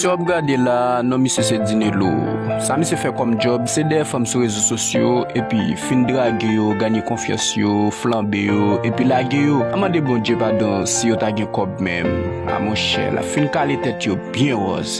Misye wap gade la non misye se Dinelo Sa misye fè kòm djòb se dèyè fanm sou rezo sosyo epi fin drage yo ganye konfyans yo flanbe yo epi lage yo Al mande Bondye padon si yo ta gen kòb menm a monchè lap fin kale tèt yo byen wòz.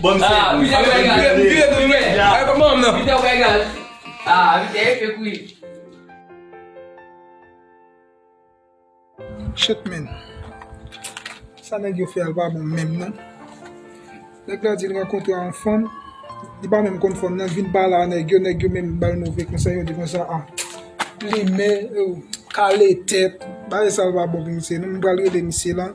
Banm sèvi. Peter ou ka egal. M vire tou vre. Gade kòman banm nan. Peter ou ka egal. Ah Peter e fek wi. Shit man. Sa nèg yo fè al pa bon menm non. Nèg la di l rankontre yon fanm. Li pa menm konn fanm nan. Li vin pale a nèg yo. Nèg yo menm ba l move konsèy. Yo di konsa a. Plimen. Kale tèt. Bagay sa l pa bon pou misye non. M pral rele misye lan.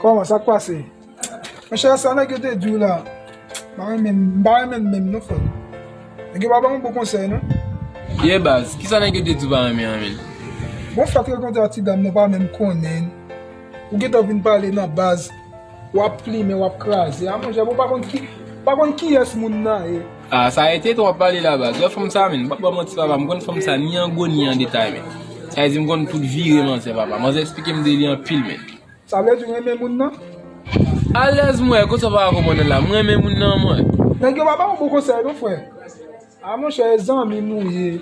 Koman sak pase? Monchè sa nèg yo te diw la mpa renmen mpa renmen menm non frèm Nèg yo pa banm bon konsèy non Ye baz kisa nèg yo te diw pa renmen an menm? Bon fèt rankontre ak ti dam nan ou pa menm konnenl ou gentan vin pale nan baz wap plimen wap kraze a monchè ou pa konn ki ou pa konn kiyès moun nan ye. Ah sa ete trop pale la baz. Wè fanm sa menn, mpap baw manti papa mkonn fanm sa ni an gwo ni an detay menn. Sa vle di mkonn tout vire manzè papa. Manzè esplikem de li anpil menn. Sa vle di ou renmen moun nan? Alèz mwen, kote w paka konprann la? Mrenmen moun nan mwen. Nèg yo pa ba ou bon konsèy non frè. Ah monchè e zanmi nou ye.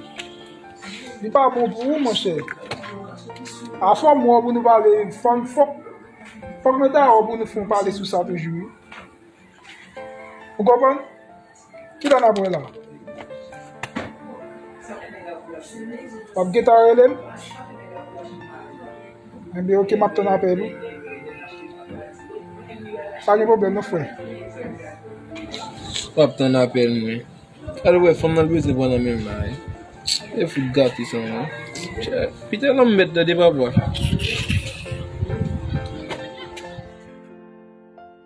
Li pa bon pou ou monchè. Ah fòm wè w pou nou pale, fòk mwen ta wè w pou nou fon pale sou sa toujou wi. Ou konprann? Ki lè n ap wè la? W ap gen tan rele m? Enben ok, m ap tann apèl ou. Pa gen pwoblèm non frè. M ap tann apèl mwen. Al wè fanm nan l beze pran nan men m la e. E fout gate sa non. Pete lanmèd tande papa.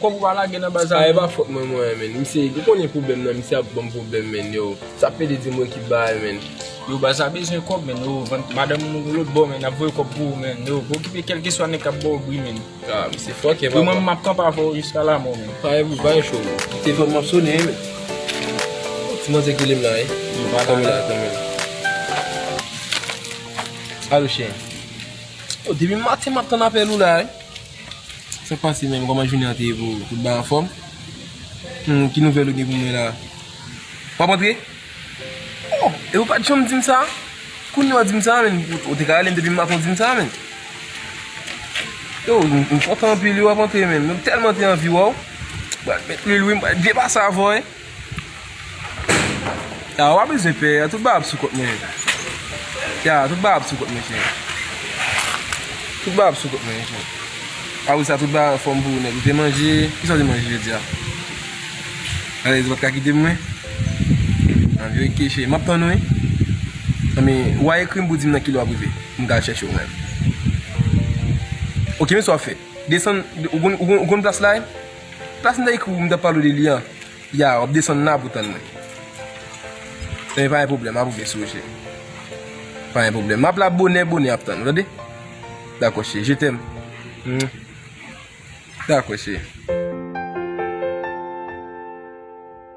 Kob ou pa lage nan baz la. Ah epa fot mwen mwen menn. Misye ou konnen pwoblem nan misye ap banm pwoblem menn yow. Sa pede di mwen ki bay menn. Yow baz la bezwen kob menn yow vant madanm ou lòt bò menn ap voye kob pou ou menn yow pa okipe kelkeswa nèg kap baw bri menn. Ah misye fòkè papa. Yow mwen menm map kanpe avèw jiska lamò menn. Pare pou bay cho menn. Kite fanm map sone wi menn. Oh ti manzè ki lem la wi. Yow pa lage la kanmenm. Alo cheri. Oh depi maten map tann apèl ou la wi. Sak pase menm koman jounen an te ye pou ou tout bagay anfòm humm ki nouvèl ou gen pou mwen la wap antre oh e ou pat janm dim sa kounya wap dim sa menm ou te ka relem depi m avan dim sa menm oh m kontan anpil wi wap antre menm m tèlman te anvi wè w m pral met lwil wi m pral byen pase avè w. Ya wap bezwen pè ya tout bagay ap sou kont mwen mesye. Ya tout bagay ap sou kont mwen mesye. Tout bagay ap sou kont mwen mesye. Apre sa tout bagay anfòm pou ou nèg. Ou te manje, kisa ou te manje jodi a? Alèz ou pat ka kite mwen? An vye keche, map tann ou wi. Anben, wa ekri m pou di m nan kilè wap rive. M ka al chèche ou menm. Ok men sa wap fè. Desann, ou konn plas la e? Plas m ta ekri w m ta pale w de li an Ya w ap desann la pou tann mwen Ebyen pa gen pwoblèm ap ouvè sou ou cheri Pa gen pwoblèm M ap la bonè bonè ap tann ou tande Dakò cheri je tèm Dakò cheri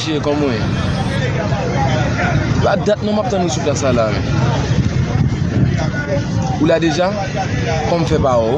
Mesye kòman w ye? Sa dat non map tann ou sou plas la la men Ou la deja? Kòm fè pa wè w?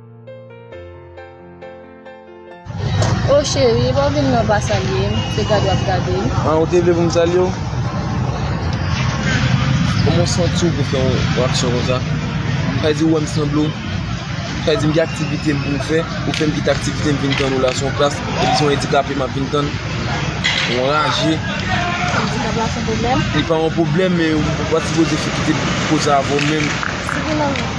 Oh chérie pa vin nan pa salyem se gad wap gadem. Ah ou te vle pou m salye w? Kòman w santi w pou fè yon aksyon konsa? Sa di ou wè m sanble w? Sa di m gen aktivite m pou m fè? Ou fè m kite aktivite m vin tann ou la se yon klas epi se yon endikape m ap vin tann? Ou anraje? Andikap la se yon pwoblèm? Li pa yon pwoblèm men ou pa sipoze kite pou koz sa avè w menm.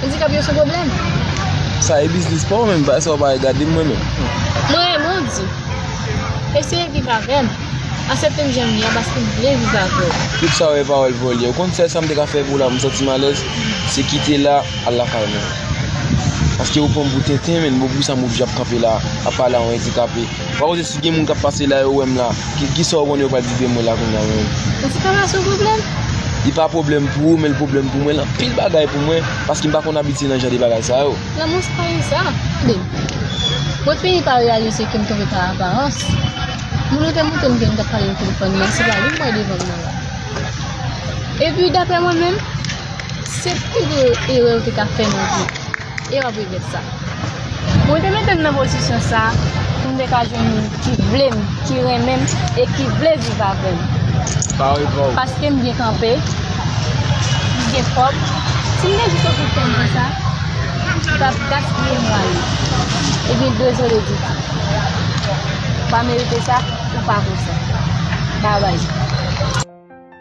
Andikap yo sou pwoblèm. Sa e biznis pa w menm, bay sa w pa wè gade mwen menm. Mwen renmen w di. Eseye viv avè m. Asepte m jan m ye a paske m vle viv avè w. Tout sa w e pawòl vòlè. Ou konn sèl sa m te ka fè pou w la pou m santi m alèz, se kite la, al lakay mwen. Paske ou pran m pou tenten menn, bon pou ki sa m oblije ap kanpe la, ap pale a yon andikape. Wa koze si gen moun kap pase la yo wèm la Kisa ou konnen yo pral di de mwen la kounya menm. Ou se pa pase yon pwoblèm? Li pa pwoblèm pou ou men li pwoblèm pou mwen l anpil bagay pou mwen paske m pa konn abitye nan jan de bagay sa yo. Lanmou se pa yon sa. Tande. Mwen fini pa reyalize ke m tonbe pa aparans. Moun yo te montre m ke nou tap pale nan telefòn men se pa li m wè devan m nan la. Epi daprè mwen menm se pi gwo erè ou te ka fè nan vi w. E wap regrèt sa. Mwen te mete m nan pozisyon sa pou m te ka jwenn moun ki vle m, ki renmen m e ki vle viv avè m. Paske m byen kanpe, m gen kòb. Si m te jis okipe tèt m konsa, m tap gaspiye mwa yo. Ebyen dezole Dida. Ou pa merite sa, ou pa vo sa. Bye bye.